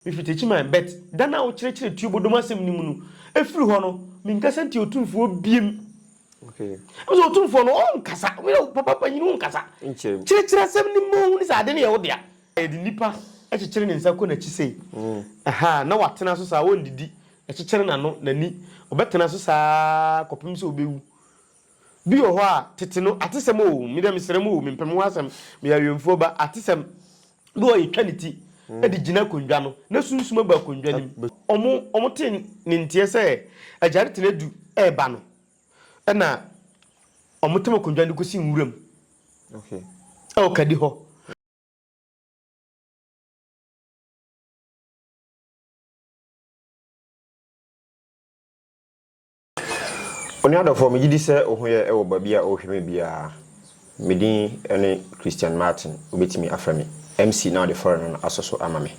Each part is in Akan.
Mifi Techiman, but da no a wokyerɛkyerɛɛ Tuobo dɔm asɛm no mu no, ɛfiri hɔ no, menkasa ntiaa Otumfoɔ biem. Ɛfiri sɛ Otumfoɔ no, ɔnkasa. Papa panyin, wonkasa. Kyerɛkyerɛ asɛm no mma ɔnhunu sɛ ade no yɛ wo dea. Ɛde nnipa kyekyere ne nsa kɔ n'akyi sei, ahaa, na watena so saa, ɔndidi, ɛkyekyere n'ano, n'ani, ɔbɛtena so saa ara kɔpem sɛ ɔbɛwu. Bi wɔ hɔ a, tete no, atesɛm o, me deɛ mesrɛ mo o, mempɛ me ho asɛm, meyɛ awɛmfoɔ ba, atesɛm bi wɔ hɔ a, yɛtwa ne ti de gyina akonnwa no na sunsum abu akonnwa no mu. Wɔn, wɔte ne nteɛ sɛ agyaretene adu reba no, ɛna wɔtam akonnwa no de kɔsi nwuram wɔ kadi hɔ. Onua dɔfoɔ, megye di sɛ wo ho yɛ wɔ baabi a wohwɛ me biara. Me din ne Christian Martin, wobɛtumi afrɛ me MC na wode fɔre no no asɔ so ama me.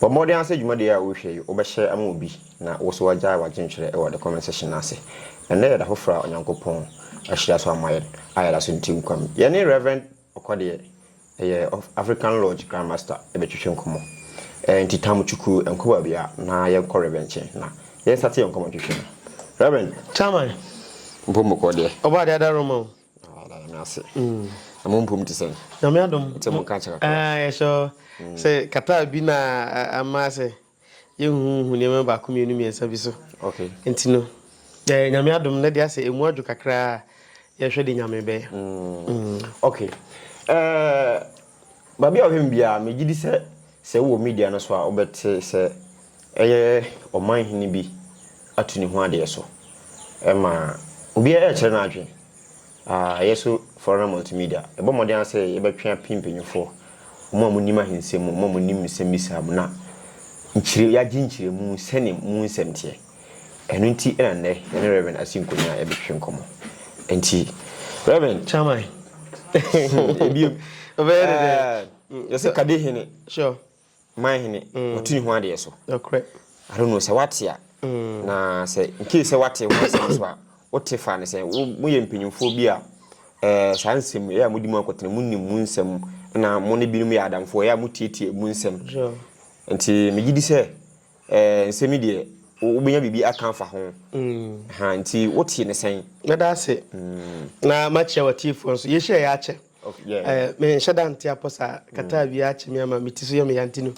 Bɔ mmɔden ara sɛ dwumadie a worehwɛ yi wobɛhyɛ ama obi na wo nso woagyae w'adwentwerɛ wɔ the comment section no ase. Ɛnnɛ yɛ da foforɔ a Onyankopɔn ahyira so ama yɛn a yɛda so nte nkwa mu. Yɛne Rev. Ɔkɔ deɛ, ɛyɛ African Lodge Grand Master bɛtwetwe nkɔmmɔ. Ɛɛ nti Tam Chuku nkɔ baabi a na yɛnkɔ Rev. nkyɛn na yɛn nstate yɛn nkɔmmɔ ntwetwe no. Rev. Chairman. Mpom mo kɔ deɛ. Ɔbaa deɛ ada roma o. Ɔbaa deɛ Nyame ase. Na mo mpom te sɛn? Nyame adom. Mo te mo nka kyɛ kakra. Ɛɛ yɛhyɛ hɔ. Sɛ kataa bi na ama sɛ. Yɛnhuhu nneɛma baako mmienu mmiɛnsa bi so. Nti no, yɛayɛ Nyame adom na de asɛ ɛmu adwo kakra a, yɛhwɛ de Nyame bɛyɛ. Ok. Baabi a ɔhwɛ me biara, megye di sɛ sɛ wowɔ media no so a, wobɛte sɛ ɛyɛ ɔman hene bi atu ne ho adeɛ so ma obiara ɛrekyerɛ n'adwene. Yɛn nso Florida Multimedia, yɛbɔ mmɔden ara sɛ yɛbɛtwe apem mpanyimfoɔ, wɔn a monim ahensɛm mu, wɔn a monim nsɛmmisa mu, na nkyerɛ, yɛagye nkyerɛmu sɛnea mu nsɛm teɛ. Ɛno nti na nnɛ yɛne Rev. Asi Nkonya rebɛtwetwe nkɔmmɔ. Enti, Rev. Chairman, ebio, yɛse Kadehene. Sure. Man hene, watu ne ho adeɛ so. Nokorɛ. I don't know sɛ wate a. Na sɛ nkee sɛ wate ho asɛm so a, wote fa ne sɛ moyɛ mpanyinfoɔ bi a eh, saa nsɛm ɛyɛ a modi mu akɔtena, monim mu nsɛm na mo ne binom yɛ adamfoɔ ɛyɛ a motietie mu nsɛm. Nti megye di sɛ eh, nsɛm yi deɛ wobɛnya biribi aka afa ho. Ha, nti wote ne sɛn? Mɛda ase. Na makyerɛ w'atiefoɔ nso. Yɛhyia yɛ akyɛ. Eh, menhyɛ da nte apɔ saa. Kata awia akye me ama me ti so yɛ me yanti no.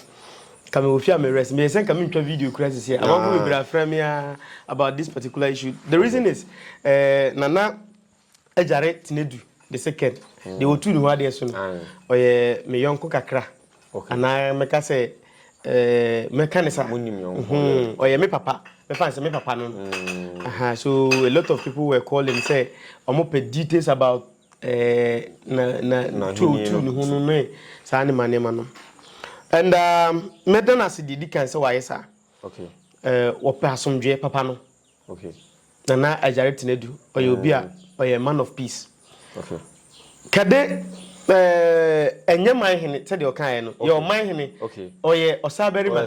Ka me wɔ fie a me rest. Meyɛ sɛ nka mentwa video kura sisi a. Amanfo bebree afrɛ me a about this particular issue. The reason is, eh, nana agyare Tinedu the second. Deɛ wɔtu ne ho adeɛ so no, ɔyɛ me yɔnko kakra. Anaa mɛka sɛ, eh, mɛka ne saa. Mhm, ɔyɛ me papa. Mɛfa sɛ me papa no. Aha, so a lot of people were calling sɛ wɔpɛ details about na tuu tuu ne ho no ne saa nneɛma nneɛma no and mɛda no ase deɛ di kan sɛ wayɛ saa wɔpɛ asomdwoeɛ papa no nana agyare tena du ɔyɛ obi a ɔyɛ man of peace kɛde ɛnyɛ man hene sɛdeɛ ɔkaeɛ no yɛ ɔman hene ɔyɛ ɔsa barima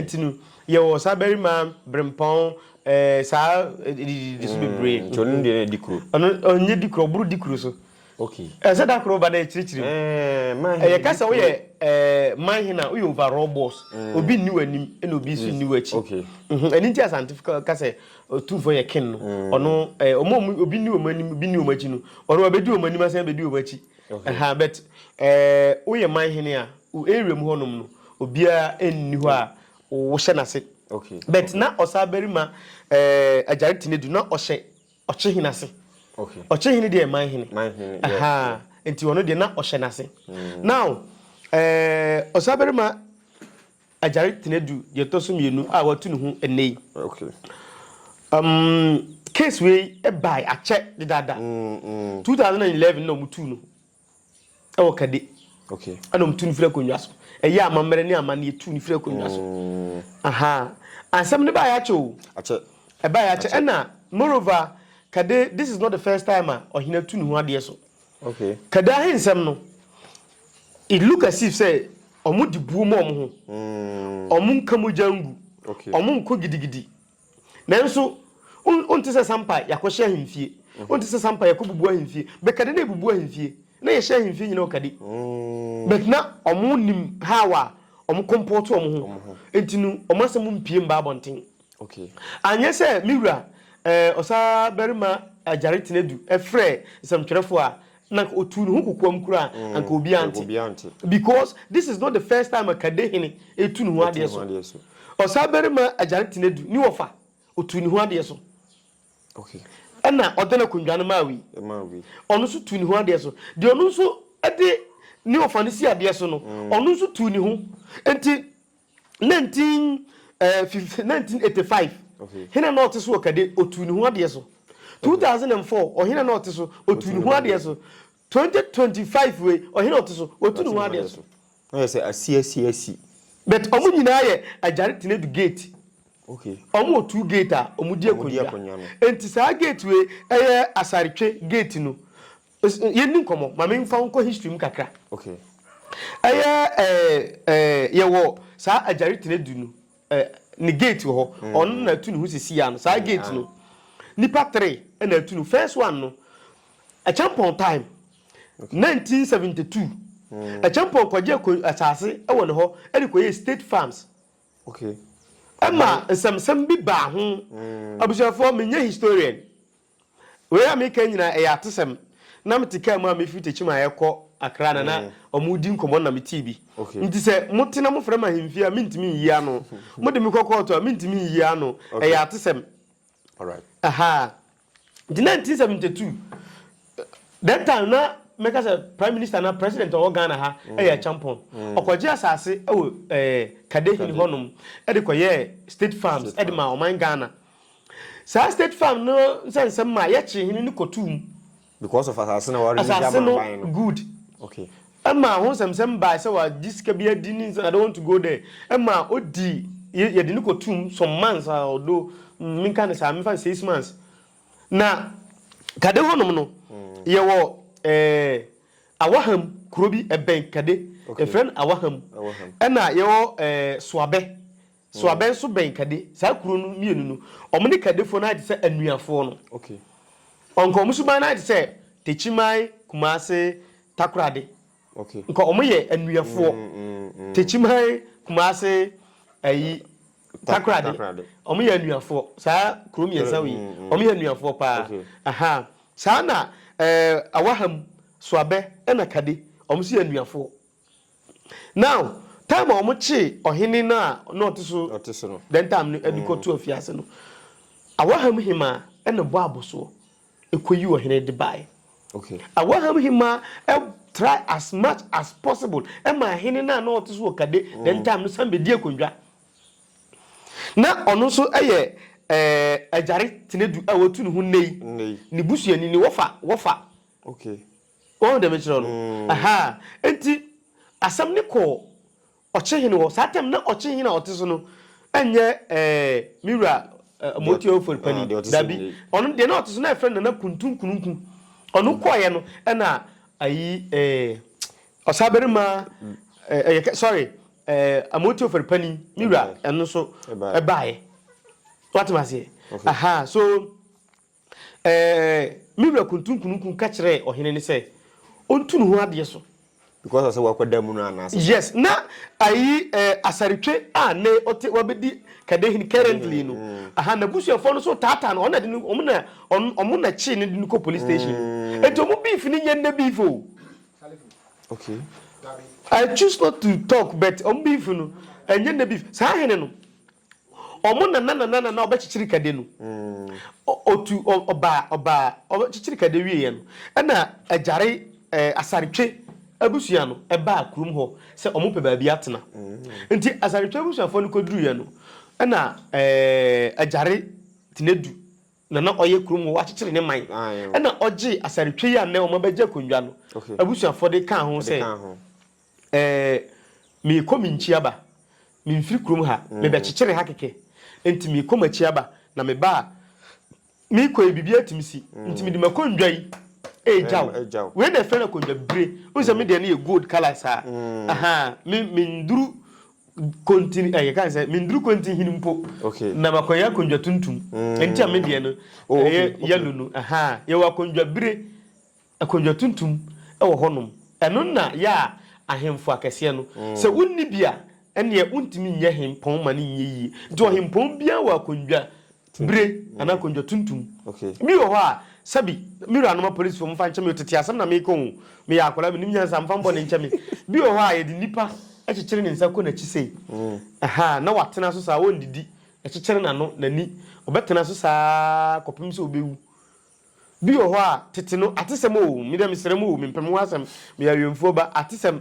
nti no yɛwɔ ɔsa barima berempɔn Ɛɛ saa ɛdididi so bebree. Nti ɔno deɛ na dikuro. Ɔno ɔnyɛ dikuro ɔboro dikuro so. Okay. Ɛsɛ da koro ba na ɛkyirikyiri mu. Ɛɛ man hena. Ɛyɛ ka sɛ woyɛ ɛɛ man hena woyɛ overall boss. Obi nni w'anim ɛna obi nso nni w'akyi. Okay. Ɛno nti Asantefo ka ka sɛ otumfoɔ yɛ king no. Ɔno ɛɛ wɔn a obi nni wɔn anim obi nni wɔn akyi no ɔno wabɛdi wɔn anim asan abɛdi wɔn akyi. Okay. Ɛhaa but ɛɛ woyɛ man hene a wo area mu hɔnom no obiara nni hɔ a wohyɛ n'ase but na ɔsaa barima agyare tena du na ɔhyɛ ɔkyehene ase ɔkyehene deɛ man hene ahaa nti ɔno deɛ na ɔhyɛ n'ase mm. now ɔsaa barima agyare tena du deɛ ɛtɔ so mmienu a watu ne ho ɛnɛ yi um, case wei ɛbae akyɛ dedaada 2011 mm, mm. na ɔmutuu no Ɛwɔ kadi. Okay. Ɛna wɔn tu no firi akonnwa so. Ɛyɛ amammerɛ ne amanneɛ tu no firi akonnwa so. Mm. Aha. Asɛm no baa yɛakyɛ o. Akyɛ. Ɛbaa yɛakyɛ. Ɛna moreover kade this is not the first time a ɔhene atu ne ho adeɛ so. Okay. Kade ahensɛm no it look as if sɛ wɔn de buo mu wɔn ho. Mm. Wɔn nka mogya ngu. Okay. Wɔn nko gidigidi. Nanso, wonte sɛ sampa yɛakɔhyɛ ahemfie, wonte sɛ sampa yɛkɔbubu ahemfie. Bɛkade na yɛbubu ahemfie, na yɛhyɛ ahemfie nyina ɔkade. But na ɔmo nim how a ɔmo kɔmpɔɔto ɔmo ho, nti no ɔmo asɛm mpie mba abɔnten. Anyɛ sɛ me wura Ɔsaa Barima Agyare Tenadu frɛɛ nsɛmtwerɛfoɔ a Na nka ɔtuu ne ho kokoam koraa a, anka obiara nte. Because this is not the first time a Kade hene retu ne ho adeɛ so. Ɔsabarima Agyare Tenadu ne wɔfa, ɔtuu ne ho adeɛ so. Ɛna Ɔdɛn Akondwa no maa wei. Ɔno nso tuu ne ho adeɛ so. Deɛ ɔno nso de ne wɔfa no si adeɛ so no, ɔno nso tuu ne ho. Enti 19, eh, 1985 Okay. hena na ɔte so wɔ kade otuu ne ho adeɛ so 2004 ɔhena na ɔte so otuu ne ho adeɛ so 2025 wei ɔhena ɔte so otu ne ho adeɛ so Na yɛ sɛ asi asi asi. but ɔmo nyinaa yɛ agyare tena du gate Okay. ɔmo wɔ two gate a ɔmo di Ɔmo di akonnwa akonnwa no. nti saa gate wei ɛyɛ asaretwe gate no Yes yɛndi nkɔmmɔ ma me nfa wo nkɔ history mu kakra okay ɛyɛ ɛɛ ɛɛ yɛwɔ saa agyare tena du no ɛɛ ne gate wɔ hɔ mm. ɔno na atu ne ho sisi ya no saa mm. gate no nipa three ɛna atu no first one no ɛkyɛmpɔn time okay. 1972 mm. ɛkyɛmpɔn kɔgye kɔ asase ɛwɔ ne hɔ ɛde kɔyɛ state farms okay ɛma nsɛmsɛm bi baa ho mm. abusuafoɔ menyɛ historian Wei a meka nyinaa ɛyɛ atesɛm. Na mete kaa mu a mefiri Techiman rekɔ Accra na na wɔredi nkɔmmɔ no na metee bi. Nti sɛ mote na mofrɛ me ahemfie a mentumi nyi ano. Mode me kɔ kɔɔto a mentumi nyi ano. Ɛyɛ atesɛm. Ahaa. Nti 1972, that time na mɛka sɛ Prime Minister anaa President a ɔwɔ Ghana ha yɛ Acheampong. Ɔkɔgye asase wɔ Kadehini hɔnom de kɔyɛɛ State Farms de maa ɔman Ghana. Saa State Farm no nsɛnsɛm maa yɛkyee hene no kɔtoo mu. Because of asase no a wɔredi ama aban no. Asase no good. Okay. Ɛmaa ho nsɛmsɛm baa sɛ wɔagye sika bi adi ne I don't want to go there. Ɛmaa odi yɛde no kɔtoo mu some months a ɔdo menka ne saa mefa no six months. Na Kade hɔnom no yɛwɔ eh, Awaham kuro bi ɛbɛn Kade. Okay. Yɛfrɛ no Awaham. Awaham. Ɛna yɛwɔ eh, Soabɛ. So abɛn so bɛn kade? Saa kuro no mmienu no, wɔn ne kadefoɔ no ayɛ te sɛ anuafoɔ no. Okay. Nka wɔn suban no ayɛ te sɛ Tekyiman, Kumase, Takorade. Okay. Nka wɔn yɛ anuafoɔ. Mm, mm, mm. Tekyiman, Kumase, ayi, Takorade. Takorade. Wɔn yɛ anuafoɔ. Saa kuro mmiɛnsa wei, mm, mm. wɔn yɛ anuafoɔ paa. Okay. Aha. Saa na ɛɛ eh, Awaham, Soabɛ, ɛna Kade, wɔn nso yɛ anuafoɔ. Now, time a wɔkyee ɔhene no a na ɔte so that time no de kɔtoo afiase no, Awahamhemmaa na ɛbɔɔ abosoɔ kɔyii ɔhene de baeɛ. Awahamhemmaa try as much as possible maa hene no a na ɔte so wɔ Kade that time no san bɛdii akonnwa. Na ɔno nso yɛ Agyare Tenadu a wɔatu ne ho nnɛ yi, ne busuani ne Wɔfa. Wɔfa. Woahu deɛ mekyerɛ no? Ahaa. Enti asɛm no kɔɔ Ɔkyehene hɔ. Saa time no na Ɔkyehene a ɔte so no nyɛ ɛɛ me wura Amoatua Ofori Panin. Dabi. Ɔno deɛ na ɔte so na yɛfrɛ no Nana Kuntun Kununku. Ɔno kɔeɛ no ɛna ayi ɛɛ Ɔsabarima ɛɛ ɛyɛ sorry ɛɛ Amoatua Ofori Panin me wura ɛno nso ɛbaeɛ. Woate me aseɛ? Ahaa. So Ɛɛ, me wura Kuntunkunukun ka kyerɛɛ ɔhene no sɛ ɔntu ne ho adeɛ so. Because ɔsɛ wakɔda mu no anaasɛ sɛ. Yes, na ayi ɛɛ Asartwe a nnɛ ɔte wabɛdi Kadehene currently no, aha, n'abusuafoɔ no nso taataa no, wɔn na de no, wɔn na, wɔn na kyee no de no kɔɔ police station. Nti wɔn beef no nyɛ nnɛ beef o. Okay. I choose not to talk but wɔn beef no, ɛnyɛ nnɛ beef. Saa hene no. Ɔmo nana nana nana ɔbɛkyekyere kade no ɔtu ɔbaa ɔbaa ɔbɛkyekyere kade wie yɛ no ɛna agyare ɛɛ asaretwe abusua no ɛbaa kurom hɔ sɛ ɔmo pɛ baabi atena nti asaretwe abusuafoɔ no kɔduru yɛ no ɛna ɛɛ agyare tenadu nana ɔyɛ kurom hɔ wakyekyere ne man ɛna ɔgye asaretwe yi a nnɛ ɔmo abɛgye akonnwa no abusuafoɔ de kaa ho sɛ. Ɛɛ, meekɔ me nkyi aba. Memfiri kurom ha, mebɛkyekyere ha kɛkɛ. Enti meekɔ m'akyi aba, na meba a meekɔ yi, biribiara tumi si. Enti mede m'akondwa yi regya wo. Wei na wɔfrɛ no akondwa bibire. Wohu sɛ me deɛ no yɛ gold colour saa. Ahaa, me, menduru kontin, ɛɛ, yɛka no sɛ, menduru kontinhini mpo, na makɔyɛ akondwa tuntum. Enti a me deɛ no, ɛyɛ yellow no. Ahaa, yɛwɔ akondwa bire. Akonnwa tuntum wɔ hɔnom. Ɛno na yɛ a ahemfo akɛseɛ no. Sɛ wonni bi a, ɛnneɛ wontumi nyɛ hempɔn ma no nyɛ yie. Nti ɔhempɔn biara wɔ akonnwa bire anaa akonnwa tuntum. Bi wɔ hɔ a, sɛbi, me wuranom apolisifo, momfa nkyɛ me o, tete asɛm na mereka o, meyɛ akwadaa, mennim nyansa, momfa mo bɔne nkyɛ me. Bi wɔ hɔ a, yɛde nnipa kyekyere ne nsa kɔ n'akyi sei, ahaa, na watena so saa, ɔnnidi, yɛkyekyere n'ano, n'ani, ɔbɛtena so saa ara kɔpem sɛ ɔbɛwu. Bi wɔ hɔ a, tete no, atesɛm o, me deɛ mesrɛ mo o, mempɛ me ho asɛm, meyɛ awɛmfoɔ ba, atesɛm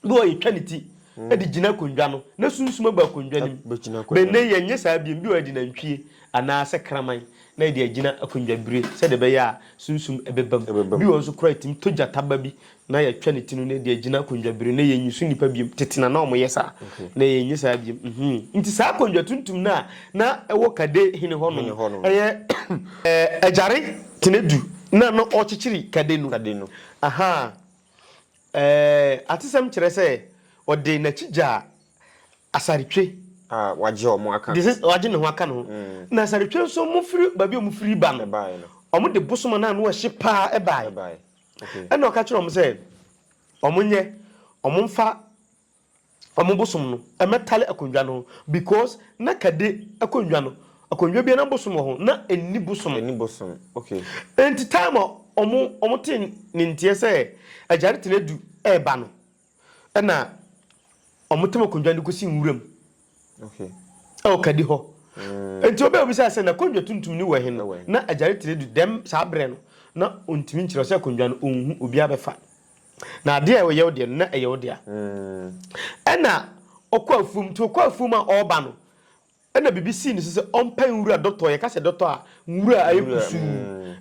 bi wɔ hɔ a, yɛtwa ne ti de gyina akonnwa no na sunsum abu akonnwa no mu. Bɛgyina akonnwa no. Bɛnnɛ yɛnyɛ saa bio, bi wɔ hɔ a, yɛde nantwie anaa sɛ kraman na yɛde agyina akonnwa bire sɛdeɛ ɛbɛyɛ a sunsum bɛba mu. Ɛbɛba mu. Bi wɔ hɔ nso koraa a, ɛtumi tɔ gyata ba bi na yɛatwa ne ti no na yɛde agyina akonnwa bere na yɛnnye so nnipa biom. Tete na na wɔyɛ saa, na yɛnyɛ saa biom. Nhuu? Nti saa akonnwa tuntum no a na ɛwɔ Kade hene hɔ no, ɛyɛ agyare tena du na na ɔrekyekyere Kade no. Aha! Ɛɛ, atesɛm kyerɛ sɛ ɔde n'akyi gyaa asaretwe. A wagye wɔn aka. De sɛ wagye ne ho aka no ho. Na asaretwe nso, wɔfiri baabi a wɔfiri ba no, wɔde bosom a na ano yɛ hye paa bae. Ɛnna ɔka kyerɛɛ wɔn sɛ wɔnyɛ, wɔmfa wɔn bosom no mmɛtare akonnwa no ho, because na kade akonnwa no, akonnwa biara na bosom wɔ ho, na enni bosom. Enni bosom, okay. Enti time a wɔn wɔn tee ne nteɛ sɛ agya no tena du reba no, ɛna ɔmo tam akondwa de kosi nwuram ɛwɔ kadi hɔ nti obi a obisaa sɛ na kondwa tuntum ni wɔ he no na agyare tire du dɛm saa berɛ no na ontumi nkyerɛ sɛ kondwa no onhu obi abɛfa na adeɛ a ɛyɛ wo deɛ no na ɛyɛ wo dea ɛna ɔkɔ afuom nti ɔkɔ afuom a ɔba no Ɛna biribi sii ne so sɛ ɔmpae nwura dɔtɔ, yɛka sɛ dɔtɔ a, nwura ayɛ kusuu,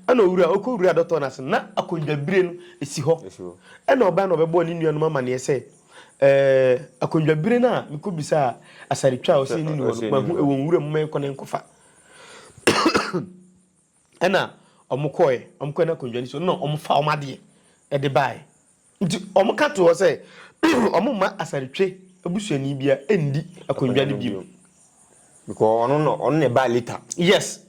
ɛna owura, ɔkɔwuraa dɔtɔ no ase, na akondwabire no si hɔ. Ɛna ɔbae na ɔbɛbɔɔ ne nuanom amanneɛ sɛ, Ɛɛ, akondwabire no a mekɔbisaa asaretwa a ɔsɛ ɛnni ne hɔ no, mahu ɛwɔ nwura mu, momma yɛnkɔ na yɛnkɔfa. Ɛna wɔn kɔɛ, wɔn kɔɛ na akondwa ni so, ɛna wɔn faa wɔn adeɛ ɛde baaɛ. Nti wɔn ka to hɔ sɛ, wɔn mma Asaretwe abusuani bia ɛndi akondwa no bio. Because ɔno na ɔno na ɛbaa later. Yes,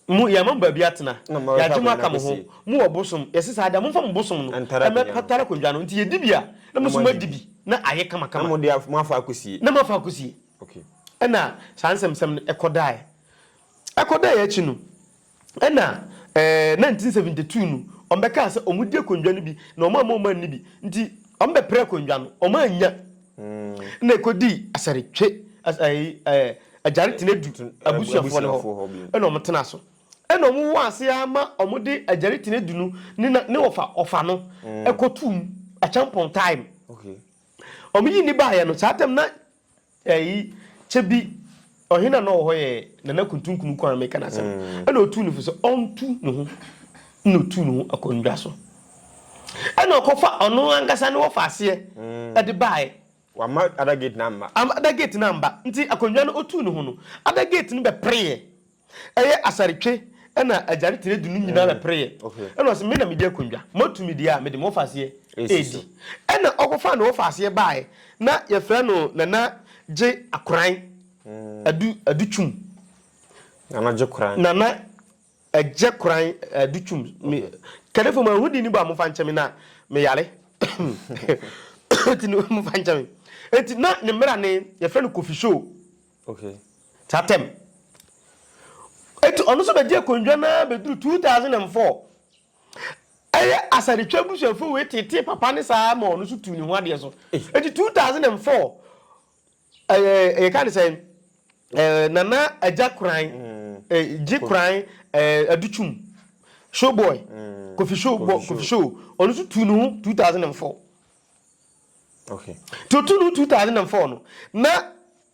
mo yɛama mo baabi atena, yɛagye mo aka mo ho, mo wɔ bosom, yɛse saa dea momfa mo bosom no ɛmɛtara akondwa no, nti yɛdi bi a na moso moadi bi na ayɛ kamakama. Na mode moafa akɔsie. Na moafa akɔsie. Okay. Ɛna saa nsɛmsɛm no ɛkɔdaaɛ. Ɛkɔdae akyi no, ɛna eh, 1972 no, wɔbɛkaa sɛ wɔdi akonnwa no bi na wɔamma wɔn anni bi. Nti wɔbɛpere akonnwa no, wɔannya. Na ɛkɔdii Asaretwe, as, eh, eh, Agyare Tenadu Ten- eh, abusuafoɔ no abusuafoɔ hɔ hɔ bio. ɛna wɔtenaa so. Ɛna wɔwɔ ase ara ma wɔde Agyare Tenadu no ne na- ne ɔfa ɔfa no ɛkɔtoo mu, Acheampong time. Okay. Wɔyi nni baeɛ no, saa tam na Eii kyɛ bi ɔhene a na ɔwɔ hɔ yɛ Nana Kuntu Nkunuku a meka n'asɛm no, ɛna ɔtuu no fo sɛ ɔntu ne ho na ɔtuu ne ho akonnwa so. Ɛna ɔkɔfa ɔno ankasa ne wɔfa aseɛ de baeɛ. Wamma Adagate no amma. Amma Adagate no amma. Nti akonnwa no ɔtuu ne ho no, Adagate no bɛpereeɛ Ɛyɛ asaretwe na agyare tire du no nyinaa na pereeɛ. Ɛna ɔse, me na medi akonnwa. Moatu me deɛ a, mede mo wɔfa aseɛ redi. Ɛna ɔkɔfaa ne wɔfa aseɛ baaɛ, na yɛfrɛ no Nana Gye Akoran Adu Adu Twum. Nana Gye Koran. Nana Gye Koran Adu Twum. Me, Kadefo ma nhu din no bɔ a momfa nkyɛ me na me yare. Nti no momfa nkyɛ me. Nti na ne mmera ne, yɛfrɛ no Kofi Show. Okay. Saa term. Eti ɔno nso bɛgye akonnwa no ara bɛduru 2004. Ɛyɛ Asadetwa abusuafoɔ wei tetee papa no saa ma ɔno nso tuu ne ho adeɛ so. Eti 2004, ɛyɛ yɛka ne sɛn, ɛɛ Nana Agya Koran, ɛɛ Gye Koran, ɛɛ Adutwum, Showboy, Kofi Show, Kofi Show, ɔno nso tuu ne ho 2004. Nti ɔtuu no 2004 no na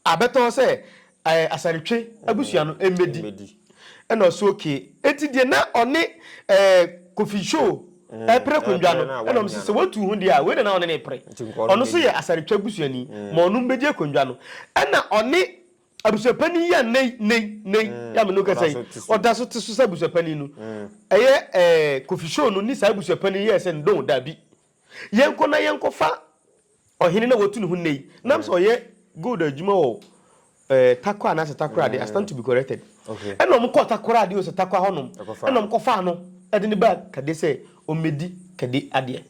abɛtɔ sɛ ɛɛ Asare-Twe abusua no mmɛdi ɛna ɔso okay enti deɛ na ɔne ɛɛ Kofi Show ɛɛpere akonnwa no ɛna ɔmo se sɛ watu ho deɛ a wei na na ɔne no repere ɔno nso yɛ Asare-Twe abusuani ma ɔno mmɛdi akonnwa no ɛna ɔne abusuapanin yi a nnɛ yi nnɛ yi nnɛ yi yi a me ne wo kasa yi ɔda so te so sɛ abusuapanin no ɛyɛ ɛɛ Kofi Show no ne saa abusuapanin yi yɛɛ sɛ ndon daabi Yɛnkɔ na yɛnkɔfa ɔhene no a watu ne ho nnɛ yi, na sɛ ɔyɛ gold adwuma wɔ eh, Takwa anaasɛ Takoradi, I stand to be corrected. Okay. Ɛna wɔn kɔɔ Takoradi o sɛ Takwa hɔnom, Ɛkɔfaa ɛna no. wɔn kɔfaa no ɛde no baa Kade sɛ ɔmmɛdi Kade adeɛ.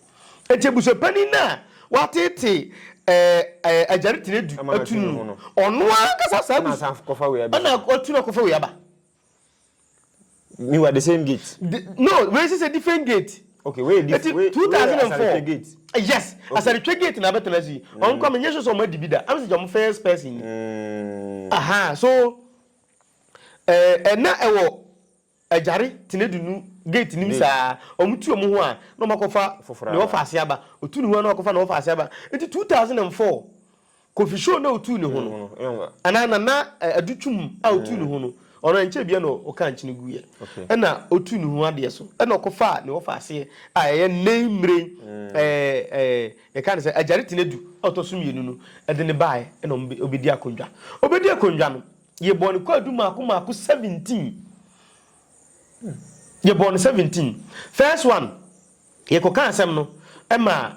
Enti abusuapanin no a wateetee eh, eh, Agyare Tenadu Ama no atu atu ne no ho no, no. ɔno ankasa saa Ɛna asan abusua, kɔfa wei abɛfa. ɛna watu no akɔfa wei aba. Me were the same gate. The, no, we is a different gate. Okay, we different. Eti we, 2004. We gate. Eh, yes, okay. Asarichwe gate na betena si. Mm. On come nyeso so ma dibida. I'm such a first person. Mm. Aha, so eh eh na ewo ajare tinedunu gate nim saa. Omu tu omu ho a na omakofa na ofa ase aba. Otu ne ho na okofa na ofa ase aba. Eti 2004 Kofi show na otuu ne ho no anaa Nana Adu Twum a otuu ne ho no ɔno ɛnkyɛ bia na ɔka nkyene guiɛ ɛna otuu ne ho adeɛ so ɛna ɔkɔfaa ne ɔfa aseɛ a ɛyɛ Nei Mmerɛn ɛɛ yɛka ne sɛ Agyare Tenadu a ɔtɔ so mmienu no ɛde ne baaɛ ɛna ɔbɛdi akondwa ɔbɛdi akondwa no yɛbɔɔ ne kwaadu maako maako 17 yɛbɔɔ no 17 first one yɛkɔka asɛm no ɛma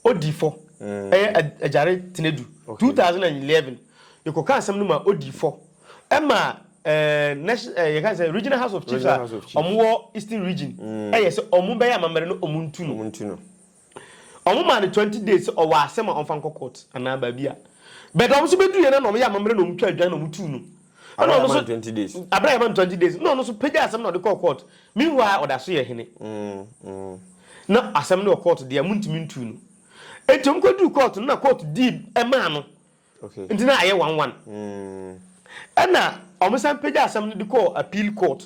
Odifɔ, ɛyɛ Agyare Tenadu, two thousand and eleven, yɛkɔkaa asɛm no maa Odifɔ, ɛma national, yɛka ne sɛ Regional House of Chiefs a wɔn wɔ Eastern Region, ɛyɛ sɛ wɔn bɛyɛ amammerɛ na wɔn ntu no. Wɔn maa no twenty days sɛ ɔwɔ asɛm a ɔmfa nkɔ court anaa baabi a, but wɔn nso bɛduruiɛ no na wɔyɛ amammerɛ na wɔn twaa dwan na wɔn tuu no. Ɛna ɔno so abira yɛ man twenty days ɛna ɔno so pagya asɛm na ɔde kɔɔ court meanwhile ɔda so yɛ hene mm, mm. na asɛm no wɔ court deɛ mo ntumi ntu no eti ɔmo kɔ duru court no na court di ɛmaa no nti na ayɛ one one mm. ɛna ɔmo san pagya asɛm no de kɔɔ appeal court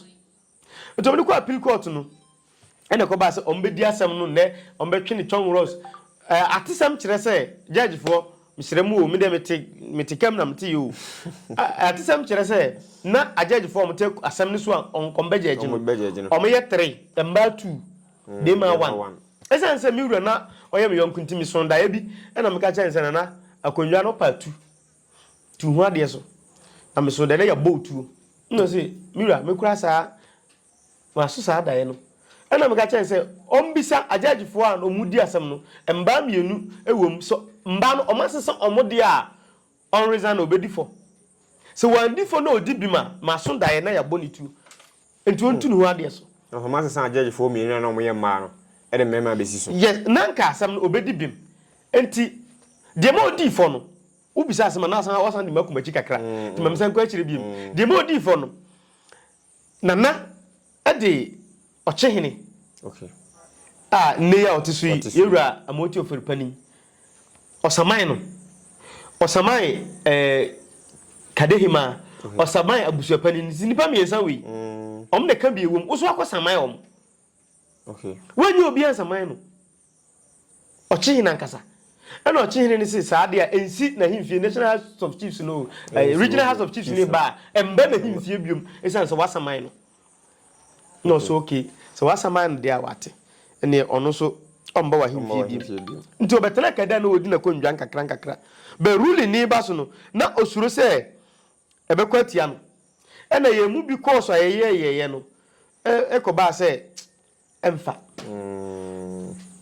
Nti wɔde kɔɔ appeal court no ɛna ɛkɔbaa sɛ wɔbɛdi asɛm no nnɛ, wɔbɛtwe no congros. Ɛɛ atesɛm kyerɛ sɛ judge foɔ, mesrɛ mo o, me deɛ mete mete kam na mete yɛ o. Ɛɛ atesɛm kyerɛ sɛ na a judge foɔ a wɔte asɛm no so a wɔn wɔbɛ judge no, Wɔbɛ judge no. wɔyɛ three, mmaa two, Mm, bɛɛma bɛɛma one. one. Ɛsiane sɛ me wura na ɔyɛ me yɔnko nti mesoo daeɛ bi ɛna meka kyerɛɛ no sɛ Nana, akonnwa no part two tu ho adeɛ so na meso dɛ na yɛ bɔ otuo na ɔse me wura me kura saa maso saa daeɛ no ɛna meka kyɛn sɛ ɔmbisa agyaagifoɔ a ɔmu di asɛm no mbaa mmienu ɛwom sɛ mbaa no ɔmo asesa ɔmo deɛ a ɔnresan na ɔbɛdi fɔ sɛ wandi fɔ na ɔdi bim a maso daeɛ na yɛ abɔ ne tuo. Nti ɔntu ne ho adeɛ so. Na ɔhoma sesa judgefoɔ mmienu a na wɔyɛ mmaa no de mmarima abɛsi so. Yes, na anka asɛm no ɔbɛdi bem. Nti deɛ ma ɔdii fɔ no, wobisa asɛm a na asan wasan de makɔ m'akyi kakra, nti ma mensan nkɔ akyire biom. Deɛ ma ɔdii fɔ no, Nana de Ɔkyehene a nnɛ yi a ɔte so yi, Yɛwura Amoati Ofori Panin, Ɔsaman no, ɔsaman ɛɛ Kadehemaa, ɔsaman abusuapanin, nti nipa mmiɛnsa wei, wɔn na ɛka bie wɔ mu, woso akɔ saman wɔn. Wɔnyɛ obi ansaman no. Ɔkyehene ankasa. Ɛna ɔkyehene no se saa adeɛ a ɛnsi n'ahemfie, National House of Chiefs no, Regional House of Chiefs no ba a, ɛmba n'ahemfie biom, ɛsiane sɛ wasaman no. Nna ɔse okay, sɛ w'asɛm ayɛ no dɛ a ɔatse, nneɛ ɔno so ɔmmba w'ahenfie bio. Ntsi ɔbɛtsenaa Kedar na ɔdzi n'akondwa nkakrankakra. But ruling no reba so no, na osuro sɛ ɛbɛkɔ atsia no. Nna hɛn mu bi kɔɔ so a yɛyɛɛyɛeɛ no, ɛkɔbaa sɛ ɛmmfa.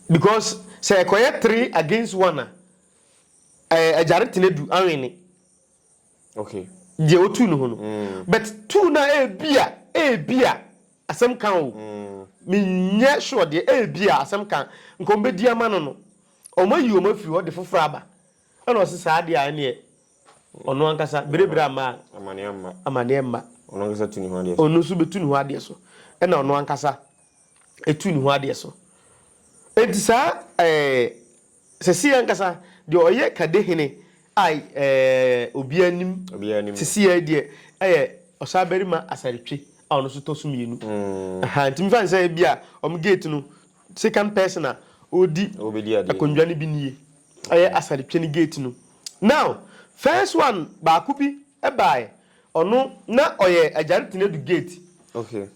Because sɛ ɛkɔyɛ three against one a, ɛɛ agyare tena du, awene. Okay. Deɛ wotu no ho no. Mm. But tu no a ebia, ebia asɛm ka o. Mm. Menyɛ sure deɛ ebia asɛm ka nka wɔn bɛdi ama no no. Wɔn ayi wɔn afiri hɔ de foforɔ aba. Ɛna ɔse saa deɛ a ɛneɛ ɔno ankasa berebere ama a. Amaneɛ mma. Amaneɛ mma. Ɔno ankasa tu ne ho adeɛ so. Ɔno nso bɛtu ne ho adeɛ so. Ɛna ɔno ankasa. ɛtu ne ho adeɛ so. Enti saa ɛɛ sɛsii ankasa deɛ ɔyɛ Kade hene a ɛɛ obiara nim Obiara nim no. sɛsii ara yi deɛ ɛyɛ Ɔsabarima Asaretwe a ɔno nso tɔ so mmienu. Aha, nti mefa no sɛ ebi a wɔn gate no second person a ɔredi Ɔrebɛdi adeɛ no. akondwa no bi nie. Ɛyɛ Asaretwe no gate no. Now, first one baako bi Ɛbae, ɔno, na ɔyɛ Agyantene du gate. Okay.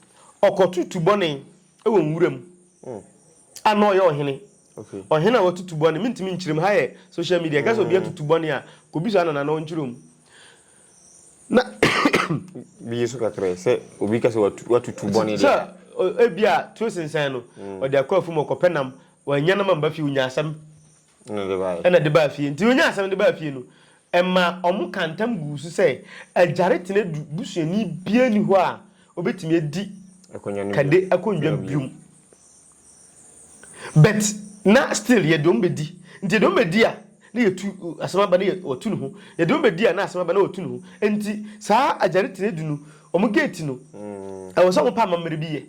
Ɔkɔto tubɔne wɔ nwura mu. Oh. A na ɔyɛ ɔhene. Okay. Ɔhene a wɔto tubɔne, mentumi nkyerɛ mu, ha yɛ social media, ɛka sɛ obi ato tubɔne a, kɔbisa Nana na ɔnkyerɛ mu. Na. Bi yɛ so kakra yi, sɛ obi ka sɛ watu, watu tubɔne deɛ. Sɛ, o- ebi a, turo sensɛn no, ɔde akɔ afum, ɔkɔpɛ nam, wannya nam amba fie, ɔnya asɛm. Ɛna ɛde baeɛ. Ɛna ɛde baa fie. Nti ɔnyaa asɛm no de baa fie no, ɛmaa wɔkaa ntam guu so sɛ, Agyare Tenadu busuani biara nni hɔ a ɔbɛtumi adi Kade akonnwa bio. But na still yɛde wɔn bɛdi. Nti yɛde wɔn bɛdi a, na yɛtu asɛm aba na wɔatu ne ho. Yɛde wɔn bɛdi a, na asɛm aba na wɔatu ne ho. Nti saa Agyare Tenadu no, wɔn gate no, ɛwɔ sɛ wɔpa amammerɛ bi yɛ.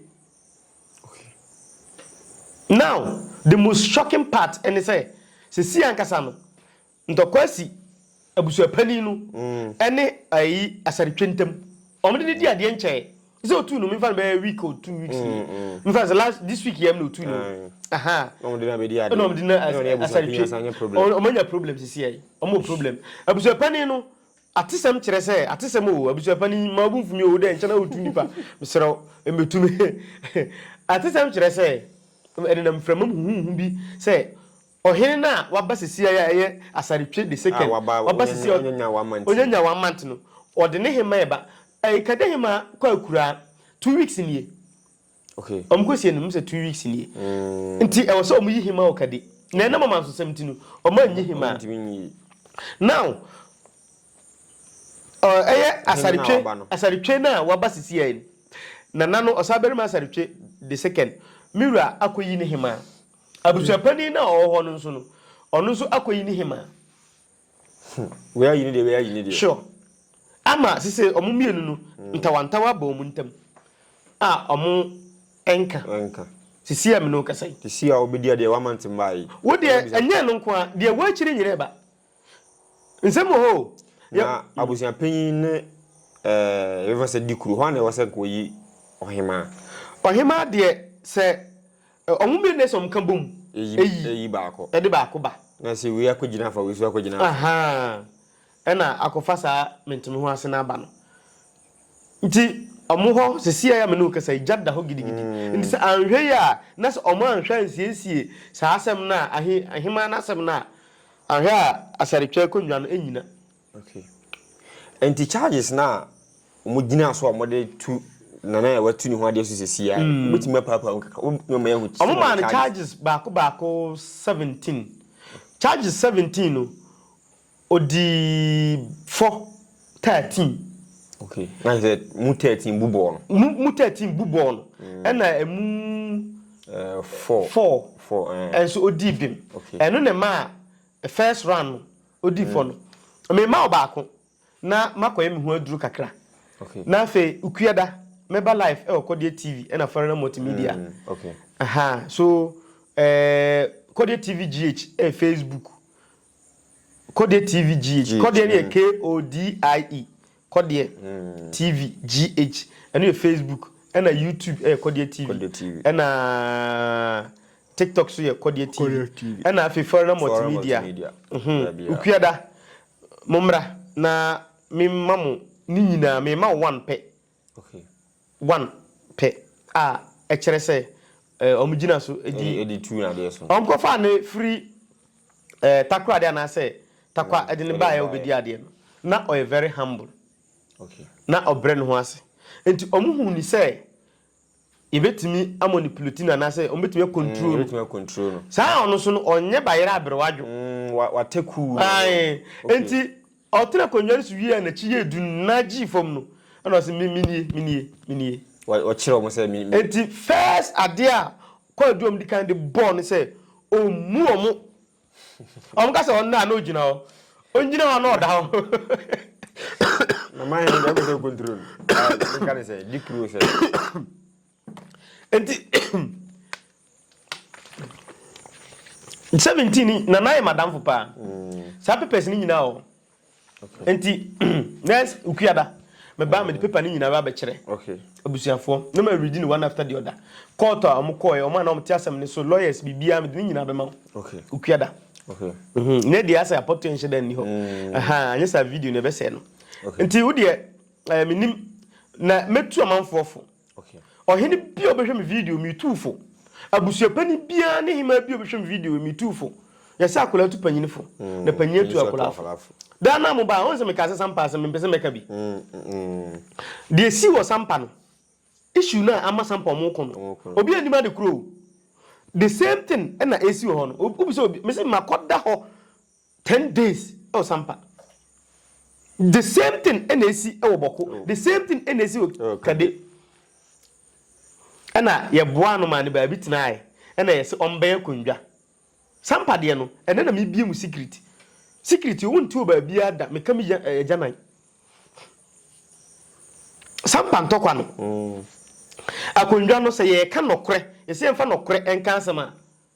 Now the most shocking part ne sɛ sesei ankasa no ntɔkwa asi abusuapanin no ne ayi Asare-Twe ntam. Wɔn de no di adeɛ nkyɛɛ sɛ otuu no menfa no bɛyɛ week or two weeks nie menfa no sɛ last this week yɛm na otuu no aha na wɔn de no abɛdi adeɛ na wɔn de no Asare-Twe wɔn anya problem sesei wɔn wɔ problem abusuapanin no Atesɛm kyerɛ sɛ atesɛm oo, abusua pa no yi, mma wo bo mfu me oo, wo dɛ nkyɛ na wotu nnipa, mesrɛ wo, mmetu me. Atesɛm kyerɛ sɛ ɛnenam mframa mu huhuuhu bi sɛ ɔhene no a waba sesiai a ɛyɛ Asartwe the A second, waba, waba onye, sesiai, onye nyawa amante. onye nyawa amante no, wɔde ne hemma ɛba. Ɛɛ, kade hemma kɔ akuraa, two weeks nie. Okay. Wɔn kɔ sie no, wɔn sɛ two weeks nie. Mm. Nti ɛwɔ sɛ wɔn yi hima wɔ kadi. Na ɛnam ɔman so sɛm ti no, wɔn anyi hima. Wɔn ntumi nyi. Now, ɛyɛ asaretwe asaretwe na waba sisi yɛn. Nana no ɔsan bɛrima asaretwe the second. Miwura akɔyi ne hima. Abusuapani na ɔwɔ hɔ no nso no, ɔno nso akɔyi ne hima. Wei ayi ne deɛ, wei ayi ne deɛ. Sure. Ama sese wɔn mmienu no mm. ntawantawa bɔ wɔn ntam a wɔn nka. Nka. Sisi a mi no kasa yi. Sisi a wobɛdi adeɛ wama ntem baa yi. Wo deɛ ɛnyɛ no nko a deɛ wɔakyiri nyina ɛba. Nsɛm wɔ hɔ o. Na mm. abusua panyin ne ɛɛ yɛfɛ sɛ di kuro hɔ a na ɛwɔ sɛ nka oyi ɔhemaa. Ɔhemaa deɛ sɛ Wɔn mmienu na ɛsɛ wɔn ka bom. Eyi eyi baako. Ɛde baako ba. Na sɛ wei akɔgyina afa wei nso akɔgyina afa. Ahaa ɛna akɔfa saa mentemeho ase no aba no. Nti wɔn hɔ sesie a me ne wo kasa yi gya da hɔ gidigidi. Nti sɛ anhwɛ yie a na sɛ wɔn anhwɛ ansiesie saa asɛm no a ahe aheman no asɛm no a anhwɛ a asaretwa akonnwa no nnyina. Okay. Nti charges na wɔn gyina so a wɔn de tu nana a watu ne ho adeɛ so sisi a mm. wobɛtumi apaapaa mu kakra wobɛtumi ama yɛahu wɔn maa no charges baako baako seventeen charges seventeen no odi fɔ thirteen. okay na sɛ mu thirteen bu bɔɔl no. mu mu thirteen bu bɔɔl no mm. ɛna emu. Eh, four four four ɛnso eh. odi bim ɛno na ɛma first round no odi fɔ no, mema wo baako na makɔyɛ me ho aduru kakra na afei Ukueda mɛba live ɛwɔ Kɔdeɛ TV ɛna Farina Multimedia. Aha, so ɛɛ Kɔdeɛ TV GH ɛyɛ Facebook. Kɔdeɛ TV GH, Kɔdeɛ no yɛ K-O-D-I-E, Kɔdeɛ TV GH, ɛno yɛ Facebook, ɛna YouTube yɛ Kɔdeɛ TV, ɛna TikTok nso yɛ Kɔdeɛ TV, ɛna afei Foreigner Multimedia. Okuada, mommra na memma mo ne nyinaa, mema wo one pɛ. One pɛ a ɛkyerɛ sɛ wɔn gyina so di. Ɛde tu adeɛ so. Wɔn kɔfaa no firi ɛɛ takoradi anaasɛ takwa ɛde no baeɛ ɔbɛdi adeɛ no na ɔyɛ very humble. Okay. Na ɔbrɛ ne ho ase nti wɔn hu ni sɛ yɛbɛtumi amonipuleti no anaasɛ wɔn bɛtumi akontrol no. Yɛbɛtumi akontrol no. Saa ɔno nso no ɔnyɛ bayerɛ aberewa adwo. Mm, wa wa tekuu. Ayi, okay. Nti Ɔtenaa akonnwa no so wiee a n'akyi yɛɛ duru no, na gyee fam no, ɛnna ɔse, Me, menie, menie, menie. Wɔ, wɔkyerɛɛ wɔn sɛ, Me, me. Enti first adeɛ a Kwadwo a wɔdi kan de bɔɔ no sɛ ɔmmu wɔn. Wɔka sɛ ɔnnɛ a na ɔgyina hɔ. Ɔngyina hɔ a na ɔda hɔ. Na man he, deɛ ɔpɛ sɛ ɔkontrol no, ah, menka ne sɛ, di kuro sɛ. Enti seventeen ni na nayɛ madamfo paa saa papers no nyinaa wɔ hɔ nti nurse nkuada mebaa mede paper no nyinaa bɛkyerɛ abusuafoɔ na ma read no one after the other court a wɔn kɔɛ wɔn a na wɔn te asɛm no so lawyers biribiara mede ne nyinaa bɛma nkuada mhm. ne deɛ asɛ apɔtoɛ nhyɛ da nni hɔ mm. anyɛ saa video no ɛbɛsɛɛ no nti wodeɛ eh, menim na mɛtu amanfoɔ fo Ɔhene bi a ɔbɛhwɛ me video me tuu fo abusuapanin biara ne hemaa bi a ɔbɛhwɛ me video me tuu fo yɛsɛ akwadaa tu panyin fo na panyin atu akwadaa fo daa naa mo baa ɔn sɛ meka sɛ sampa asɛm mempɛ sɛ mɛka bi deɛ esi wɔ sampa no issue no a ama sampa ɔmo ko no obi anim ade kuro the same thing ɛna esi wɔ hɔ no wobisa obi mesi makɔda hɔ Ten days ɛwɔ sampa the same thing ɛna esi ɛwɔ bɔko the same thing ɛna esi wɔ kade ɛna yɛ boa ano maa ne baabi tenae ɛna yɛ se ɔmbɛyɛ akondwa sampa deɛ no ɛnɛ na mi bie mu secret secret owo nti wɔ baabi ada meka mi ya ɛyɛ gyanan sampa ntɔkwa no akondwa no sɛ yɛ ɛka nɔkorɛ yɛ se yɛnfa nɔkorɛ ɛnka asɛm a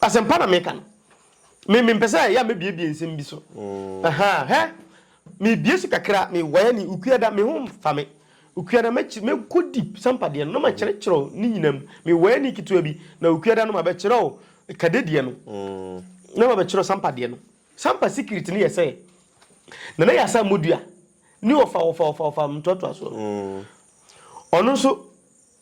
Asɛmpa na meka no. Me mempɛ sɛ yɛ a mɛbiebie nsɛm bi so. Ahaa, hɛ! Mebie so kakra, me wire ni, Okuada, me ho mfa me. Okuada, mɛkyi, mɛkɔ deep, Sampa deɛ no, na makyerɛkyerɛ wo ne nyinaa mu. Me wire ni ketewa bi, na Okuada no mabɛkyerɛ wo Kade deɛ no, na mabɛkyerɛ wo Sampa deɛ no. Sampa secret no yɛ sɛ, Nana Yasa mmɔdua ne ɔfa-ɔfa-ɔfa-ɔfa ntoatoasoɔ no, ɔno nso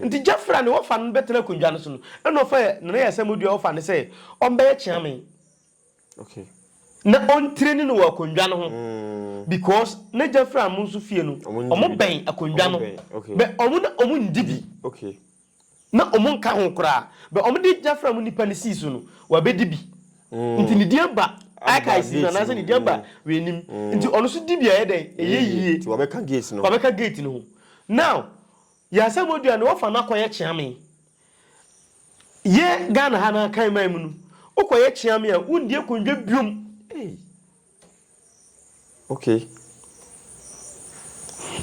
Ntsi Jefferah ne wɔfa no no bɛtsena akondwa no so no, nna ɔfa Nana Yaw Asamoah-Duah a wɔfa no sɛ ɔmbɛyɛ kyeame na ontraini no wɔ akondwa no ho because na Jefferah hɔn so fie no wɔbɛn akondwa no but wɔn na wɔnndzi bi na wɔnnka ho koraa but wɔde Jefferah mu nyimpa no sii so no ɔabɛdzi bi ntsi ne dzin aba archives no anaasɛ ne dzin aba w'enyim ntsi ɔno so dzi bi a ɔyɛ dɛn ɔyɛ yie ɔabɛka gate no ho now Yɛ asɛmɔdua no wɔfa no akɔyɛ kyeame. Yɛ Ghana ha no akan man mu no wokɔyɛ kyeame a wondi akondwa biom ei ok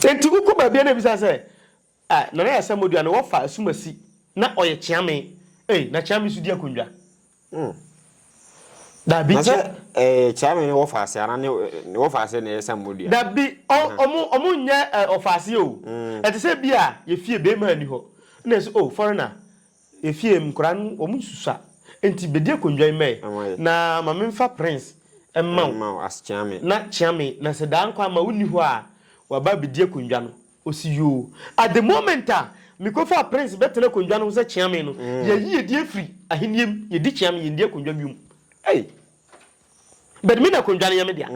enti wokɔ baabia na ebisa sɛ ah nana yɛ asɛmɔdua no wɔfa asumasi na ɔyɛ kyeame ei na kyeame so di akondwa. Hmm. Dabi na sɛ ɛɛ eh, kyame ne wɔfaase ana ne ne wɔfaase na ɛyɛ sɛ mmɔ dua. Dabi ɔ ɔmo ɔmo nyɛ ɛ eh, ɔfaase o. Mm. Ɛte sɛ bi a yɛ fie bɛɛma ni hɔ na ɛsɛ o oh, foreigner yɛ fie nkora no ɔmo nsusua nti bɛdi akonnwa yi mɛ na ma memfa prince mma wo na kyeame na sɛ daa nkwa ama wo ni hɔ a waba bɛdi akonnwa no Ɔsi yoo. At the moment a mekɔfaa Prince bɛtena akondwa no ho sɛ kyeame no, yɛayi yɛdin afiri ahennie mu, yɛdi kyeame, yɛnni akondwa biom. Ei! But me na akondwa no yɛ me dea.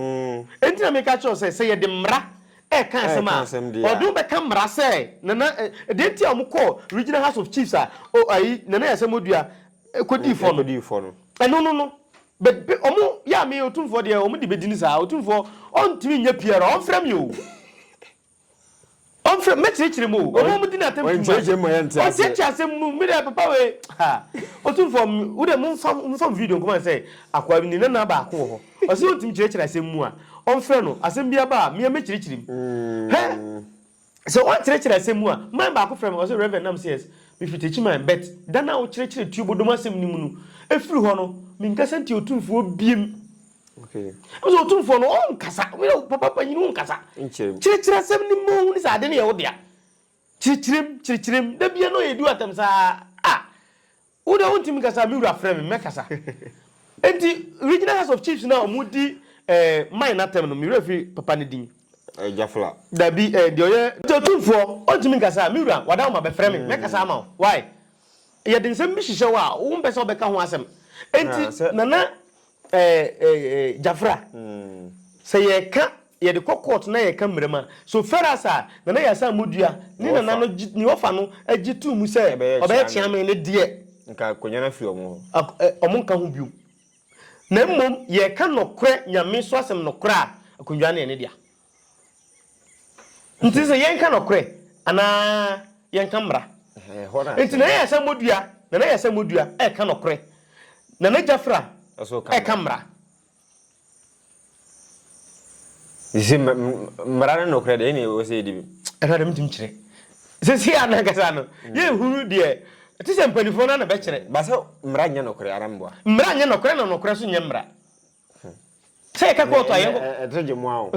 Enti na meka kyerɛ wo sɛ, sɛ yɛde mmara reka asɛm a, ɔde wo bɛka mmara sɛ Nana, deɛ nti a wɔkɔɔ Regional House of Chiefs a o ayi, Nana Yaa Asamoah-Duah kɔdii fɔ no, ɛno no no. But be, wɔn, yɛ a me, Otumfoɔ deɛ, wɔn de bɛdi no saa. Otumfoɔ, ɔntumi nyɛ PR, ɔmfrɛ me o. Ɔmfrɛ mu mɛkyerɛkyerɛ mu o. Ɔma ɔmo di n'atam dwuma. Ɔnkyerɛkyerɛ mu ma yɛnte aseɛ. Ɔnkyerɛkyerɛ asɛm mu. Me deɛ papa wei ha. Otumfoɔ wo deɛ momfa momfa me video nkɔma no sɛ akoa bi ne nana baako wɔ hɔ ɔse ɔntumi kyerɛkyerɛ asɛm mu a ɔmfrɛ no asɛm bi aba a me a mɛkyerɛkyerɛ mu hɛ sɛ ɔnkyerɛkyerɛ asɛm mu a man baako frɛ me ɔse Rev nam se yes mefiri Techiman but da no a wokyerɛkyerɛ Tuobodom asɛm no mu no ɛfiri hɔ no menkasa nti Otumfoɔ biem Okay. Ɛsɛ otumfoɔ no ɔnkasa. Wúyɛ papa panyin ɔnkasa. Nkyerɛm. Kyerɛkyerɛ asɛm no mu ne sɛ ade no yɛ wo dea. Kyerɛkyerɛm kyerɛkyerɛm da bia na ɔyɛ du atɛm saa a wo dɛ wontumi nkasa me wura frɛ me mɛkasa. Enti regional house of chiefs no a wɔn di eh, mine n'atɛm no me wura firi papa no din. Eh, Jafla. Dabi eh, deɛ ɔyɛ. Nti otumfoɔ ɔntumi nkasa me wura wada wo ma bɛfrɛ me mɛkasa ama wo why yɛde nsɛm bi hyehyɛ hɔ a wompɛ sɛ wobɛka ho asɛm enti nana Ɛɛ Jafra, sɛ yɛka, yɛde kɔ court na yɛka mmara mu a, so Ferras a Nana Yaa Asaah Modua ne Nana no gye, ne ɔfa no gye too mu sɛ ɔbɛyɛ kyeame no deɛ, Nka akonnwa no afi wɔn hɔ. ɛ, wɔnka ho bio, na mmom yɛka nɔkorɛ Nyame so asɛm nɔkorɛ a, akonnwa no yɛ ne dea. Nti sɛ yɛnka nɔkorɛ anaa yɛnka mmara? Nti Nana Yasa Modua, Nana Yasa Modua ɛka nɔkorɛ, Nana Jafra ɛka mmara. Sɛ mmara ne nɔkorɛ deɛ ɛne ɛwɔ sɛ yɛdi bi. Ɛno adeɛ mentumi kyerɛ. Sɛ si a nankasa no, yɛnhunu deɛ ɛte sɛ mpanifoɔ no na bɛkyerɛ. Ba sɛ mmara nyɛ nɔkorɛ ara mboa. Mmara nyɛ nɔkorɛ na nɔkorɛ nso nyɛ mmara. Sɛ yɛka kɔɔto a yɛn. Ɛnɛ ɛ ɛto gye mo a o.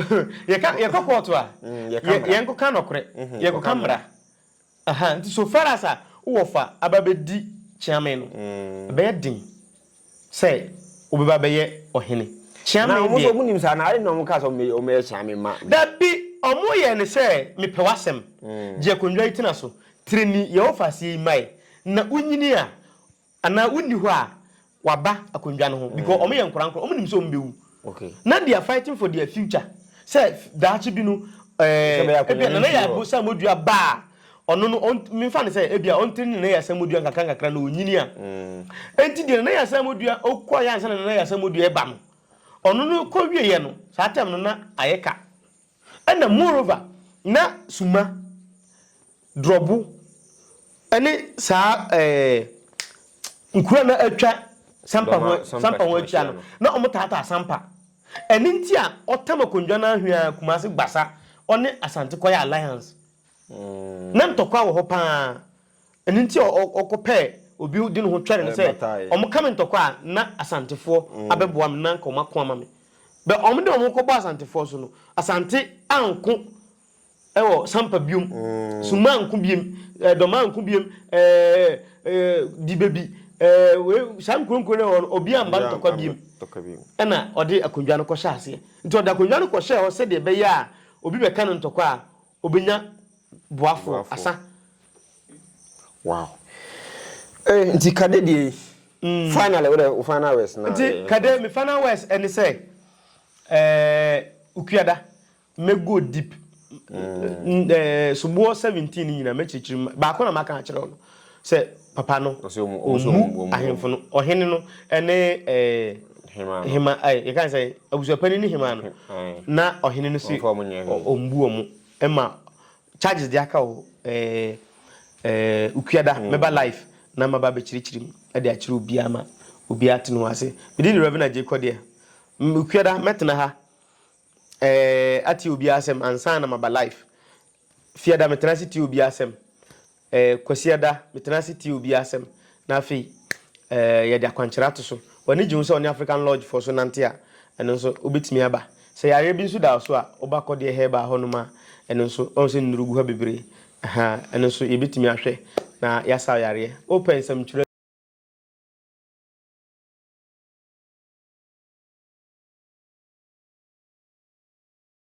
Yɛka yɛkɔ kɔɔto a. Mm, yɛka yɛ mmara. yɛnkɔka nɔkorɛ, Mhm, yɛkɔka mmara. Aha, nti so far as a wowɔ fa aba abɛdi Kyeame no, Mm. ɛbɛyɛ den sɛ wobɛba abɛyɛ ɔhene. Kyeame Anaa wɔn nso deɛ. wɔn nim saa anaa? Adɛn na wɔn kaa sɛ wɔn bɛyɛ wɔn bɛyɛ Kyeame ma? Dabi, wɔn yɛ no sɛ mepɛ w'asɛm, Mm. gye akonnwa yi tena so, tiri ni yɛ wo fa aseɛ yi mmae, na wo nyini a Anaa wonni hɔ a waba akondwa no ho because ɔmo yɛ nkorankora ɔmo nim sɛ ɔmo bɛwu na they are fighting for their future sɛ daakye bi no ɛɛ ebia Nana Yaw Asamoah-Dua ba a ɔno no ɔn me nfa no sɛ ebia ɔn train Nana Yaw Asamoah-Dua nkakra nkakra na ɔnyini a ɛnti deɛ Nana Yaw Asamoah-Dua ɔkɔ yɛ ansa na Nana Yaw Asamoah-Dua ɛba no ɔno no kɔ wie yɛ no saa time no na ayɛ ka. Ɛna moreover na suma, drɔbo ne saa ɛɛ nkuro a na atwa Sampa ho Sampa ho akyia no na wɔn taataa Sampa. Ɛno nti a ɔtam akondwa no ara hwiaa Kumasi Gbasa ɔne Asante kɔyɛ alliance. Na ntɔkwa wɔ hɔ paa. Ɛno nti a ɔkɔpɛɛ obi de ne ho twɛre no sɛ, Wɔka me ntɔkwa a, na Asantefoɔ abɛboa me, na anka wɔako ama me. Bɛ wɔde wɔn ho kɔbɔɔ Asantefoɔ so no, Asante anko wɔ Sampa biom, Summa anko biom, Dɔma anko biom, ɛɛɛ Dibebi, ɛɛɛ wei, saa nkuro nkuro no a ɛwɔ hɔ no, obi amma ntɔkwa biom. Ɛna ɔde akonnwa no kɔhyɛɛ aseɛ. Nti ɔde akonnwa no kɔhyɛɛ hɔ sɛdeɛ ɛbɛyɛ a obi bɛka no ntɔkwa a, Obenya boafo wɔ Boafo. asa. Wow. Eh, nti Kade deɛ yi, finally wo dɛ wo final words na Nti yɛ- Kade, me final words ne sɛ, eh, Okuada, mɛ go deep. N- eh, Soboɔ 17 no nyinaa mɛkyerɛkyerɛ mu. Baako na maka akyerɛ wo no. Sɛ papa no ɔmmu ahemfo no, ɔhene no ne hema, yɛka sɛ abusuapanin ne hema no, na ɔhene no se ɔmbu wɔn mma charges de aka o Ukuada mɛba live na maba abɛkyerɛkyerɛ mu de akyerɛ obiara ma obiara ate ne ho ase. Medin de Reverend Agyei Kɔdeɛ. Ukuada mɛtena ha atie obiara asɛm ansa na maba live Fiada metena ase tie obi asɛm, eh, Kwasiada metena ase tie obi asɛm, na afei, eh, yɛde akwankyerɛ ato so. W'ani gye ho sɛ wo ne African Lodgefoɔ so nante a, ɛno nso wobɛtumi aba. Sɛ yareɛ bi nso da wo so a, woba Kɔdeɛ Herbal hɔ nom a, ɛno nso, woahu sɛ nnuro gu hɔ bebree, aha, ɛno nso yɛbɛtumi ahwɛ na yɛasa wo yareɛ. Wopɛ nsɛmtwerɛ a.